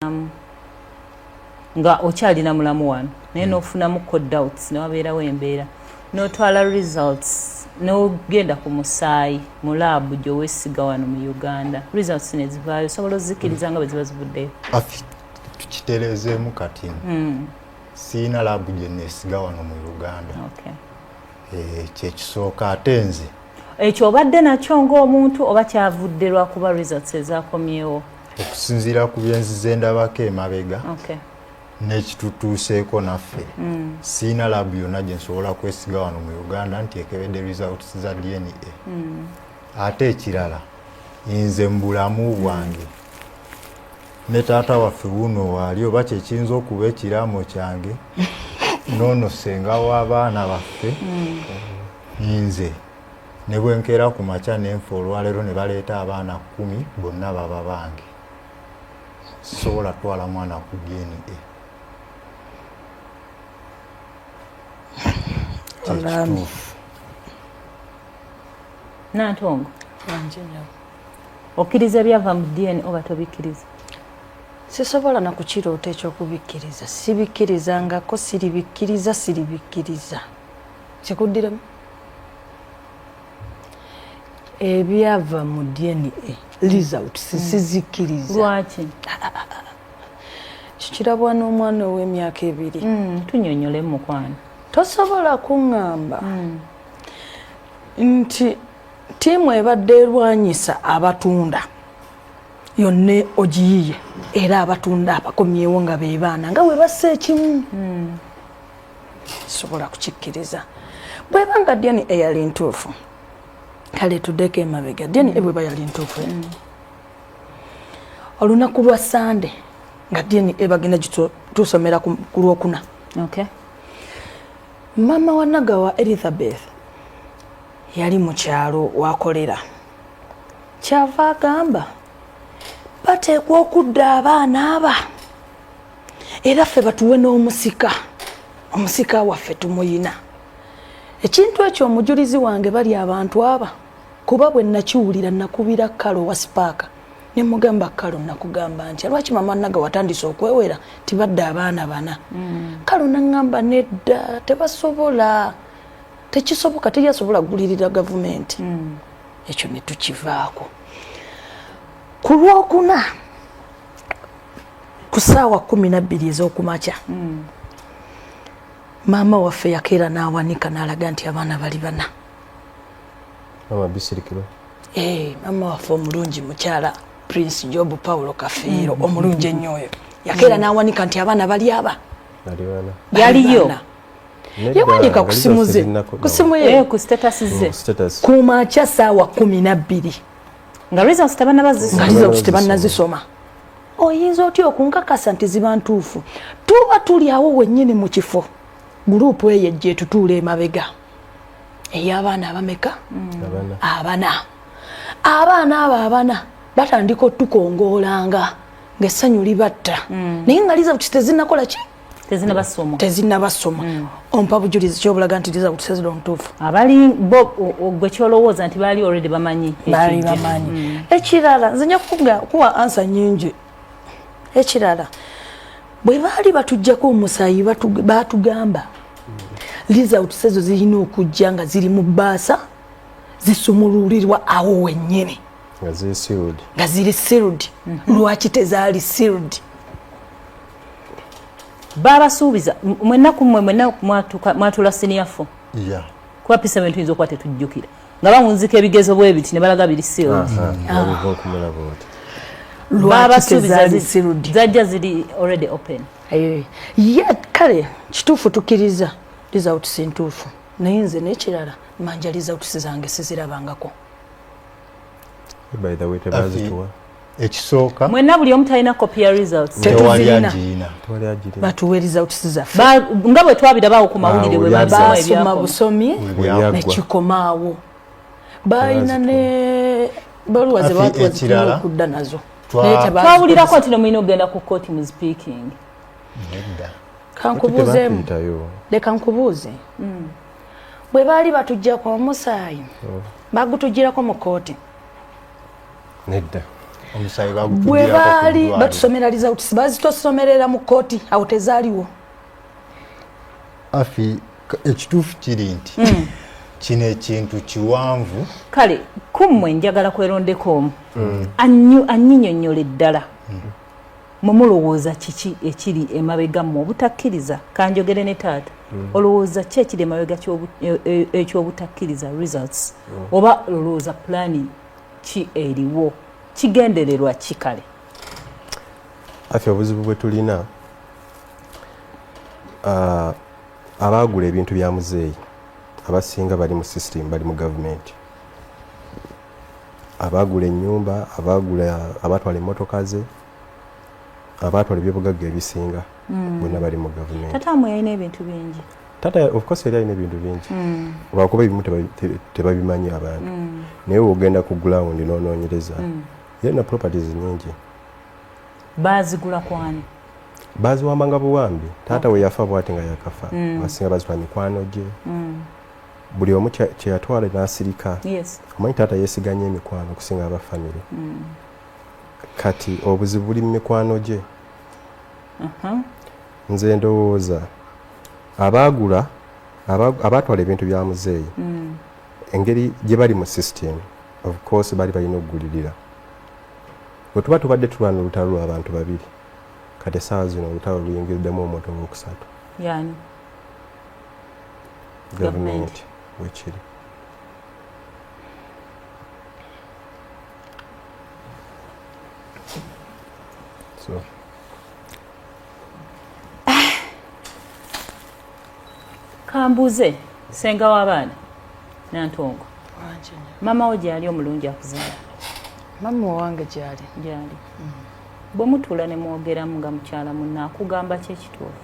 um, nga okyalina mulamu wano naye hmm. nofunamuko doubts newabeerawo embeera notwala results nogenda ku musaayi mu laabu gyowesiga wano mu uganda results nezivaayo osobola ozikiriza nga bweziba zivuddeyo tukitereezeemu kati hmm. siina laabu gyenesiga wano mu uganda eh, kyekisooka ate nze ekyo obadde nakyo ng'omuntu oba kyavudde lwakuba results ezakomyewo okusinziira ku byenzize ndabako emabega nekitutuuseeko naffe mm. siina labu yonna gye nsobola kwesiga wano mu uganda nti ekebedde results za dna mm. ate ekirala nze mu bulamu bwange ne taata waffe wuno waali oba kyekiyinza okuba ekiraamo kyange noono senga w'abaana baffe mm. Nze ne bwe nkeera ku makya ne nfa olwaleero ne baleeta abaana kkumi bonna baba bange sisobola kutwala mwana ku DNA Nantongo okkiriza ebyava mu DNA oba tobikkiriza sisobola na kukiroota ekyokubikkiriza sibikkiriza ngako siribikkiriza siribikkiriza kikuddiremu ebyava mu dna result sisizikkiriza hmm. lwaki kikirabwa n'omwana ow'emyaka ebiri hmm. tunyonyole mukwano tosobola kuŋŋamba hmm. nti tiimu ebadde erwanyisa abatunda yonna ogiyiye era abatunda abakomyewo nga bebaana nga webassa ekimu sobola kukikkiriza bweba nga dna eyali ntuufu kale tudeko emabega dna mm. bweba yali ntuufu mm. olunaku lwa sande nga dna ebagenda gitusomera ku lwokuna okay. mama wa nagawa elizabeth yali mu kyalo wakolera kyava agamba bateekwa okudda abaana aba era ffe batuwe n'omusika omusika waffe tumuyina ekintu ekyo omujulizi wange bali abantu aba kuba bwe nakiwulira nakubira kalo wa sipaaka ne mugamba kalo nakugamba nti lwaki mama naga watandise okwewera tibadde abaana bana mm. kalo naŋŋamba nedda tebasobola tekisoboka teyasobola kugulirira gavumenti mm. ekyo ne tukivaako ku lwokuna ku saawa kumi nabbiri ez'okumakya mm. maama waffe yakeera n'awanika n'alaga nti abaana bali bana eh, maama waffe omulungi mukyala prince job paulo kafeero mm. omulungi ennyo oyo yakeera mm. n'awanika nti abaana bali aba yaliyo yawanika ku simu ze ku simu ye eh, ku makya saawa kumi nabbiri nga results tebanaba zisoma nga results tebanna zisoma oyinza otya okunkakasa nti ziba ntuufu tuba tuli awo wennyini mu kifo guruupu eyo ejja etutuula emabega ey'abaana abameka mm. abana abaana abo abana batandika otukongoolanga ng'essanyu libatta mm. naye nga liza kitezinnakola ki tezinabasoma mm. ompa bujulizi kyobulaga nti liza kutusezera omutuufu abali bo gwe kyolowooza nti baali already bamanyi baali bamanyi mm. ekirala nze nja kuwa ansa nyingi ekirala bwe baali batujjako omusayi batugamba liza utusezo zirina okujja nga ziri mu baasa zisumululirwa awo wennyini nga ziri sirudi mm-hmm. lwaki tezaali sirudi babasuubiza mwenna ku mmwe mwenna mwatuula siniya fo kuba pisa bintu yinza okuba tetujjukira nga bawunzika ebigezo bwe biti ne balaga biri siozajja ziri already open eh, ye kale kituufu tukkiriza results ntuufu naye nze n'ekirala manja results zange sizirabangako by the way tebazituwa ekisooka mwena buli omu talina kopi ya results tetuzirina batuwe results zaffe nga bwe twabirabawo ku mawulire bwe basoma busomi nekikomaawo balina ne baluwa ze batuwa okudda nazo twawulirako nti nomulina okugenda ku kooti mu speaking kankubuuzemu leka nkubuuze hmm. bwe baali batujjako omusaayi hmm. bagutujjirako mu kkooti nedda bwe baali batusomera results bazitosomerera mu kkooti awo tezaaliwo afi ekituufu kiri nti hmm. kino ekintu kiwanvu kale kummwe njagala kwerondeko omu hmm. anyinyonyola eddala hmm. mwe mulowooza kiki ekiri emabega mmwe obutakkiriza kanjogere ne taata mm. olowooza ki ekiri emabega e, e, ekyobutakkiriza results mm. oba olowooza pulaani ki eriwo kigendererwa ki kale afe obuzibu bwe tulina uh, abaagula ebintu bya muzeeyi abasinga bali mu system bali mu gavumenti abaagula ennyumba abaagula abaatwala emmotoka ze abaatwala ebyobugagga ebisinga hmm. bonna bali mu gavumenti tata mwe yalina ebintu bingi tata of course yali alina ebintu bingi hmm. lwakuba ebimu tebabimanyi abantu hmm. naye wogenda ku ground nonoonyereza yalina properties nyingi baazigula kwani baziwambanga buwambi taata oh. we yafa bwati nga yakafa basinga bazitwa mikwano gye buli omu kyeyatwale nasirika omanyi taata yesiganye emikwano okusinga aba famiry mm. kati obuzibu buli mu mikwano gye uh-huh. nze ndowooza abaagula abaatwala ebintu bya muzeeyi mm. engeri gye bali mu system of course bali balina okugulirira bwe tuba tubadde tulwana olutalo lw'abantu babiri kati esaawa zino olutalo luyingiriddemu omuntu owokusatu gavumenti wekiri so kambuuze senga w'abaana nantongo mama wo gyali omulungi akuzaala mama owange gyali gyali bwe mutuula ne mwogeramu nga mukyala munna akugamba ki ekituufu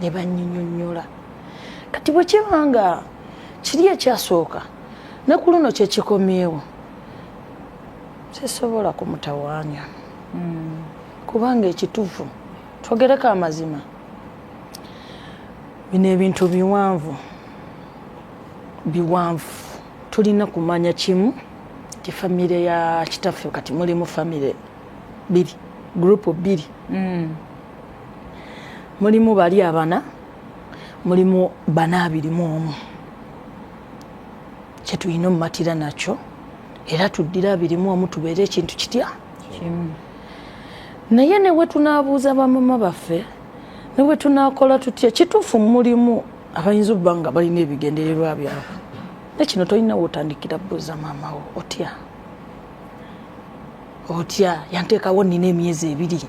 ne banyinyonnyola kati bwe kiba nga kiri ekyasooka ne ku luno kye kikomyewo sisobola kumutawaanya hmm. kubanga ekituufu twogereko amazima bino ebintu biwanvu biwanvu tulina kumanya kimu ti famire ya kitaffe kati mulimu famire biri gurupu biri hmm. mulimu bali abana mulimu bana abiri mu omu kyetulina omumatira nakyo era tuddira abiri mu omu tubeere ekintu kitya naye newe tunabuuza bamama baffe newe tunakola tutya kituufu mulimu abayinza okuba nga balina ebigendererwa byabwe nekino tolina wotandikira buuza maamawo otya otya yanteekawo nina emyezi ebiri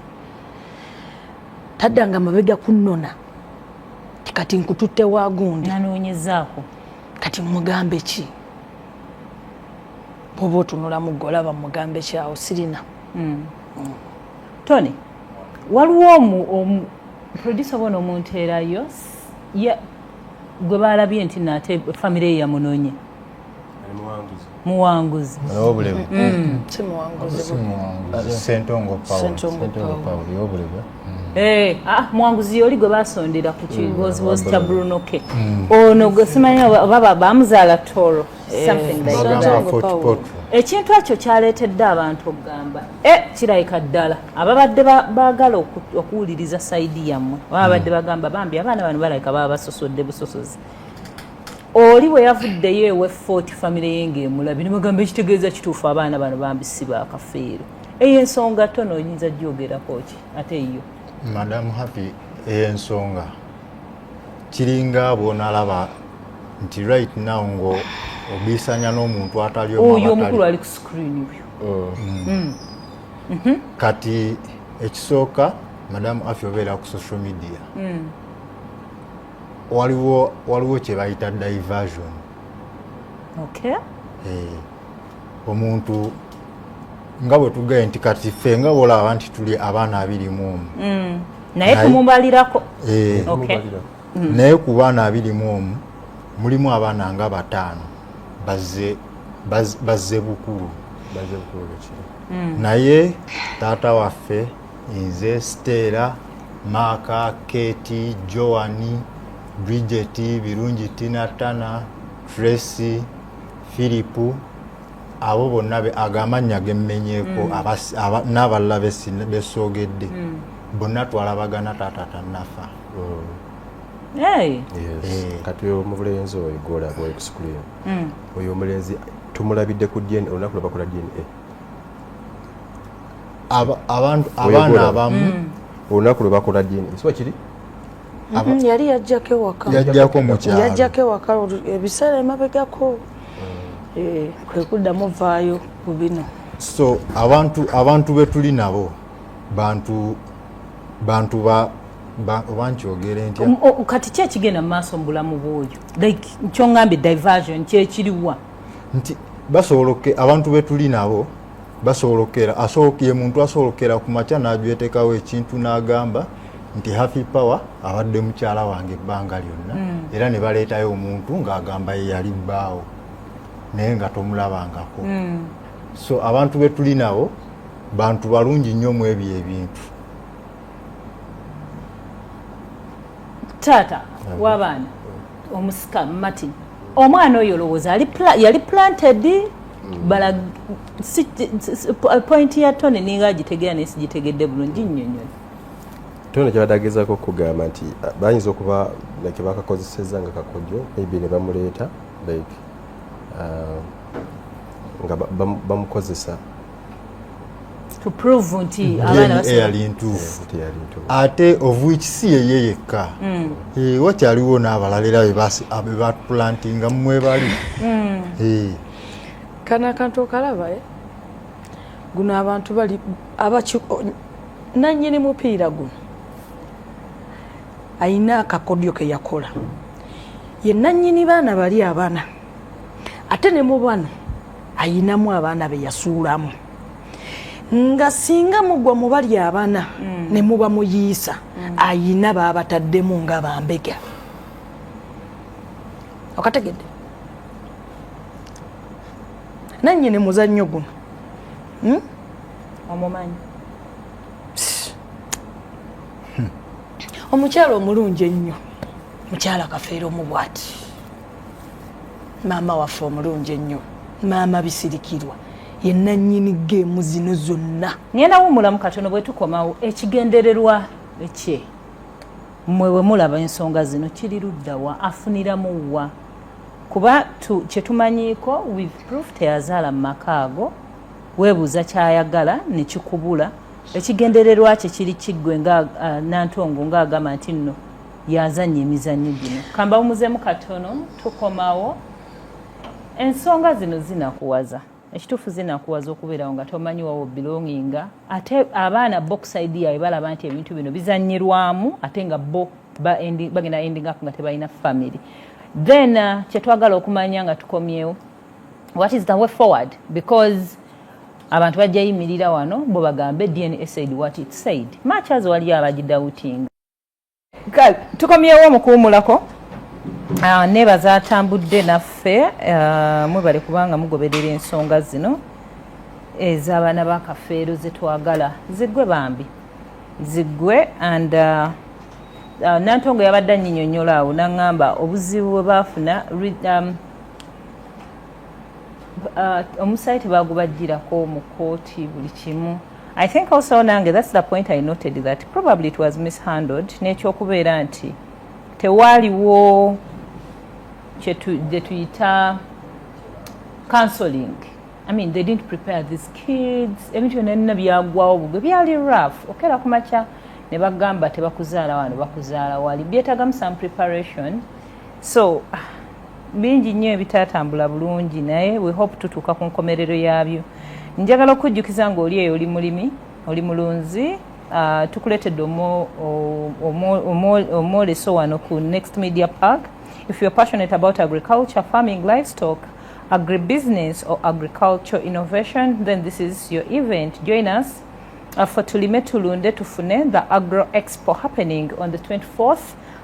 taddanga mabega kunnona kati nkututte wa gundi nanoonyezaako kati mugambe ki oba otunulamu gwe olaba mugambe ki awo sirina hmm. Hmm. tony waliwo omu producer bona omuntu erayo gwe balabye nti nate famire ye yamunonye muwanguzi obulewe mm. sentongo pawulo yobulewe Eh, ah, mwanguzi yoli gwe basondera ku kiwoziwozi mm. kya bruno k mm. ono oh, gwe simanyi baba bamuzaala toro eh, ekintu ekyo kyaleetedde abantu okugamba e eh, kirayika ddala ababadde baagala okuwuliriza saidi yammwe babadde mm. bagamba bambi abaana bano balayika baba basosodde busosozi oli bwe yavuddeyo ewe fort famire ye ng'emulabi ne bagamba ekitegeeza kituufu abaana bano bambi si bakafeero eyo ensonga tono oyinza gyogerako ki ate eyo madamu happy eyo ensonga kiringa bwonalaba nti right now ngo obisanya n'omuntu atali oyo omukulu ali ku screen oyo oh. mm. mm. mhm. kati ekisooka madamu afi obeera ku social media mm. waliwo waliwo kye bayita diversion okay eh omuntu nga bwe tugaye nti kati ffe nga bwolaba nti tuli abaana abiri mu omu mm. naye tumubalirako eh. mm. naye ku baana abiri mu omu mulimu abaana nga bataano bazze bazze bukulu mm. naye taata waffe nze siteera maaka keti joani bridget birungi tinatana tracy philipu abo bonna ago amannya gemmenyeko mm. n'abalala besoogedde mm. bonna twalabagana taata tanafa mm. Eh. kati oyo omulenzi oyo gola boy ku screen hmm. oyo omulenzi tumulabidde ku dna olunaku lwabakola dna abaana abamu mm. olunaku lwe bakola dna siba kiri mm-hmm. yali yajjako ewaka yajjako mukyalo yajjako ewaka ebiseera emabegako mm. eh, kwe kuddamu vaayo ku bino so abantu abantu be tuli nabo bantu bantu ba oba nkyogere ntya kati ki ekigenda mu maaso mu bulamu bwoyo like kyongambye diversion kyekiriwa nti basobola abantu be tuli nabo basobola okukera asobola ye muntu asobola okukera ku makya n'ajwetekawo ekintu n'agamba nti happy power abadde mukyala wange ebbanga lyonna mm. era ne baleetayo omuntu ng'agamba ye yali bbaawo naye nga tomulabangako mm. so abantu be tuli nabo bantu balungi nnyo mu ebyo ebintu taata wabaana omusika martin omwana oyo olowooza yali planted mm. bala point ya tony ninga agitegera naye sigitegedde bulungi nnyonnyoni tony kyabadde agezaako okugamba nti ah, bayinza okuba like bakakozeseza nga kakojo maybe ne bamuleeta like ah, nga bamukozesa to prove nti mm-hmm. abaana basoma eyali ntuufu ate of which si yeye yekka mm. eh, wakyaliwo n'abalala era bebatulantinga mumwebali mm. eh. kana akantu okalaba eh? guno abantu bali nanyini mupiira guno ayina akakodyo keyakola ye nanyini baana bali abana ate ne mu bano ayinamu abaana be yasuulamu nga singa mugwa mubali abana mm. ne muba muyiisa mm. ayina baabataddemu nga bambega okategedde nanyini muzannyo guno hmm? omumanyi hmm. omukyala omulungi ennyo mukyala kafeero mu bwati maama waffe omulungi ennyo maama bisirikirwa ye nannyini geemu zino zonna ngenda wumulamu katono bwe tukomawo ekigendererwa ekye mmwe bwe mulaba ensonga zino kiri luddawa afuniramu wa kuba kye tumanyiiko with proof teyazaala mu maka ago weebuuza kyayagala ne kikubula ekigendererwa kye kiri kiggwe nga uh, nantongo ng'agamba nti nno yazanya emizannyo gino kambawumuzemu katono tukomawo ensonga zino zinakuwaza ekituufu zinakuwaza okubeerawo nga tomanyi wawo bilonginga ate abaana boxide yawe balaba nti ebintu bino bizanyirwamu ate nga bo bagenda ending up nga tebalina family then uh, kyetwagala okumanya nga tukomyewo what is the way forward because abantu bajja yimirira wano bo bagambe dna said what it said much as waliyo abagidawutinga tukomyewo mukuwumulako ah, nebaza atambudde naffe ah, mwebale kubanga mugoberera ensonga zino ez'abaana ba kafeero zetwagala ziggwe bambi ziggwe and ah, nantongo yabadde anyinyonyola awo naŋŋamba obuzibu bwe baafuna um, Uh, omusaayi tebagubajjirako mu kooti buli kimu i think also nange thats the point i noted that probably it was mishandled n'ekyokubeera nti tewaaliwo kyetuyita counseling i mean they didn't prepare these kids ebintu byonna nina byagwawo bugwe byali rough okeera ku makya ne bagamba tebakuzaala wano bakuzaala wali byetagamu some preparation so bingi nnyo ebitatambula bulungi naye we hope tutuuka ku nkomerero yaabyo njagala okujjukiza nga oli eyo oli mulimi oli mulunzi uh, tukuletedde omwoleso wano ku next media park if youare passionate about agriculture farming livestock agribusiness or agriculture innovation then this is your event join us uh, for tulime tulunde tufune the agro expo happening on the 24th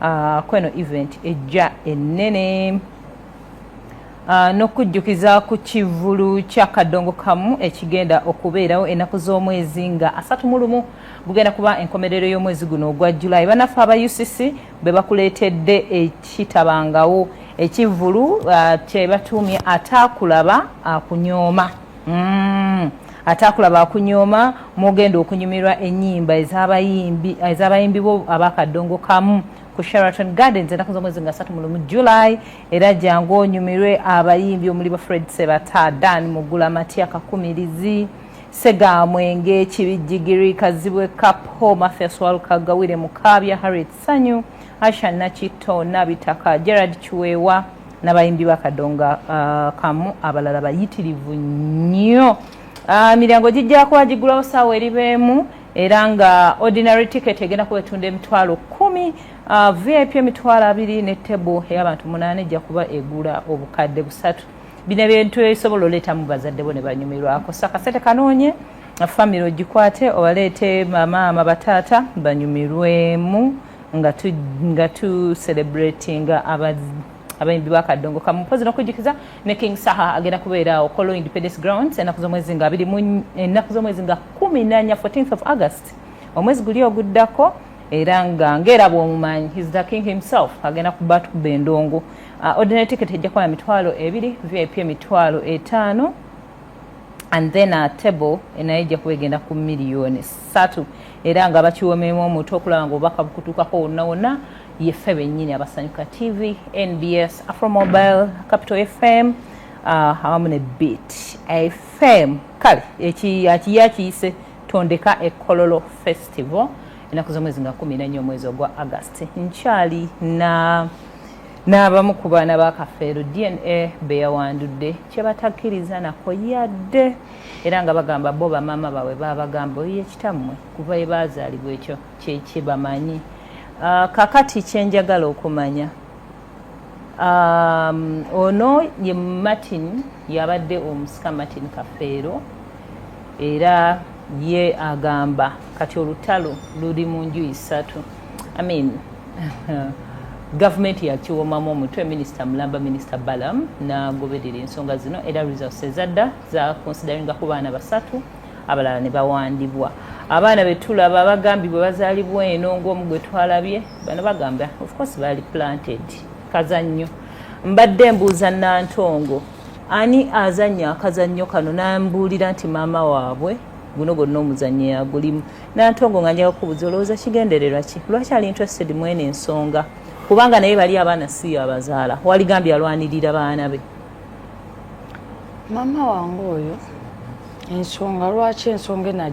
uh, kweno event ejja ennene uh, n'okujjukiza ku kivulu kya kadongo kamu ekigenda okubeerawo ennaku z'omwezi nga asatu mu lumu gugenda kuba enkomerero y'omwezi guno ogwa julayi banaffe aba ucc be bakuleetedde ekitabangawo ekivulu uh, kye batuumye ataakulaba akunyooma uh, mm. ate akulaba akunyooma mwogenda okunyumirwa enyimba ezabayimbi bo abakadongo kamu ku sheraton gardens enaku zomwezi nga satu mulumu july era jangu onyumirwe abayimbi omuli ba fred sebata dan mugula matia kakumirizi segamwenge kibijjigiri kazibwe cap ho mafia swalukagawire mukaabya harriet sanyu asha nakitto nabitaka gerard kiweewa n'abayimbi ba kadonga uh, kamu abalala bayitirivu nnyo uh, miryango gijja kuba giggulawo saawa eriba emu era nga ordinary ticket egenda kuba etunda emitwalo kumi uh, vip emitwalo abiri ne table ey'abantu munaana ejja kuba egula obukadde busatu bino ebintu ebisobola oleetamu bazadde bo ne banyumirwako so akasente kanoonye famire ogikwate obaleete mamaama bataata banyumirwemu nga tu nga tu celebrating aba abayimbi ba kadongo kamu mpozi nokujikiza ne king saha agenda kubeera awo kolo independence grounds enaku z'omwezi nga abiri mu enaku z'omwezi nga kumi nanya 14th of august omwezi guli oguddako era nga ngera bwomumanyi his the king himself agenda kuba tukuba endongo uh, ordinary ticket ejja kuba na mitwalo ebiri vip emitwalo etaano and then a table enayo ejja kuba egenda ku miliyoni satu era nga bakiwomeemu omutu okulaba nga obubaka bukutuukako wonna wonna yeffe bennyini abasanyuka tv nbs afromobile capital fm uh, awamu ne bit fm kale akiye akiyise tondeka ekololo festival enaku zomwezi nga kumi nanye omwezi ogwa agasti nkyali na n'abamu ku baana ba kafeero dna beyawandudde kyebatakkiriza nako yadde era nga bagamba bo bamaama baabwe babagamba oyo yekitammwe kuva ebaazaalibwa ekyo kyekibamanyi ah, kakati kyenjagala okumanya um, ono ye martin yabadde omusika martin kafeero era ye agamba kati olutalo luli mu nju isatu I mean, gavumenti yakiwomamu omutwe minisita mulamba minisita balam nagoberera ensonga zino era results ezadda zakonsideringa ku baana basatu abalala ne bawandibwa abaana betulaba bagambibwe bazalibwa eno ngaomu gwe twalabye bano bagamba ofcourse bali planted kazannyo mbadde mbuuza nantongo ani azannya akazannyo kano nambuulira nti maama waabwe guno gonna omuzannyi yagulimu nantongo nga njaga kubuza olowooza kigendererwa ki lwaki ali interested mwene ensonga kubanga naye bali abaana siyo abazaala waligambye alwanirira baana be maama wange oyo ensonga lwaki ensonga enajo